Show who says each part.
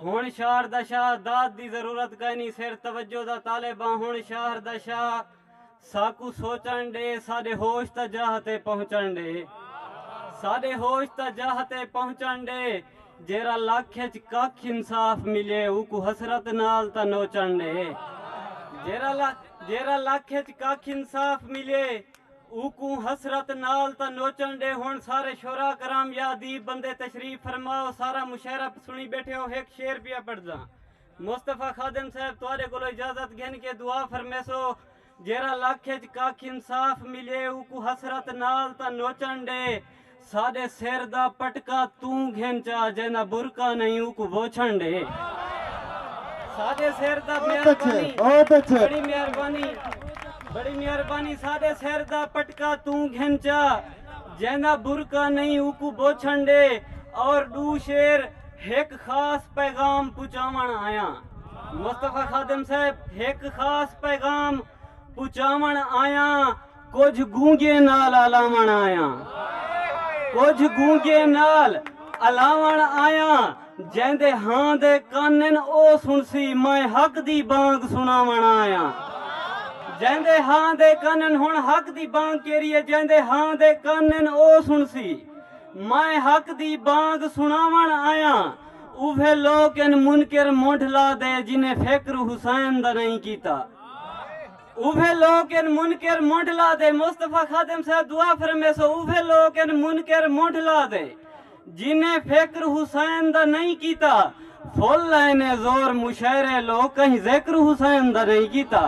Speaker 1: ہنڑ شہر دا شاہ داد دی ضرورت کائنی سر توجہ دا طالب آں ہنڑ شہر دا شاہ ساکوں سوچنڑ ڈے ساڈے ہوش تا جاہ تے پہنچنڑ ڈے ساڈے ہوش تا جاہ تے پہنچنڑ ڈے جیرھا لکھ اچ ککھ انصاف ملے اوکوں حسرت نال تاں نوچنڑ ڈے جیرھا جیرھا لکھ اچ ککھ انصاف ملے۔ اوکوں حسرت نال تاں نوچن ڈے ہن سارے شعراء کرام یا ادیب بندے تشریف فرما او سارا مشاعرہ سنڑی بیٹھے او ہک شعر پیا پڑھداں مصطفی خادم صاحب تہاڈے کولو اجازت گھن کے دعا فرمیسو جیرھا لکھ اچ ککھ انصاف ملے اوکوں حسرت نال تاں نوچن ڈے ساڈے سر دا پٹکا توں گھن چا جیندا برقع نہیں اوکوں بوچھن ڈے ساڈے سر دا مہربانی بڑی مہربانی بڑی مہربانی ساڈے سر دا پٹکا توں گھن چا جیندا برقع نہیں اوکوں بوچھن ڈے اور ڈو شیر ہک خاص پیغام پچاون آیاں مصطفی خادم صاحب ہک خاص پیغام پچاوݨ آیاں کجھ گونگے نال الاوݨ آیاں کجھ گونگے نال الاوݨ آیاں جیندے ہاں دے کانن او سنسی میں حق دی بانگ سناوݨ آیاں جیندے ہاں دے کانن ہن حق دی بانگ کیری ہے جیندے ہاں دے کانن او سنسی میں حق دی بانگ سناوݨ آیاں اوہے لوک ان منکر مونڈھ لا دے جنہیں فکر حسین دا نہیں کیتا اوہے لوک ان منکر منڈھ لا دے مصطفی خادم صاحب دعا فرمے سو اوہے لوک ان منکر منڈھ لا دے جنہیں فکر حسین دا نہیں کیتا فل لائن زور مشاعرے لوک کہیں ذکر حسین دا نہیں کیتا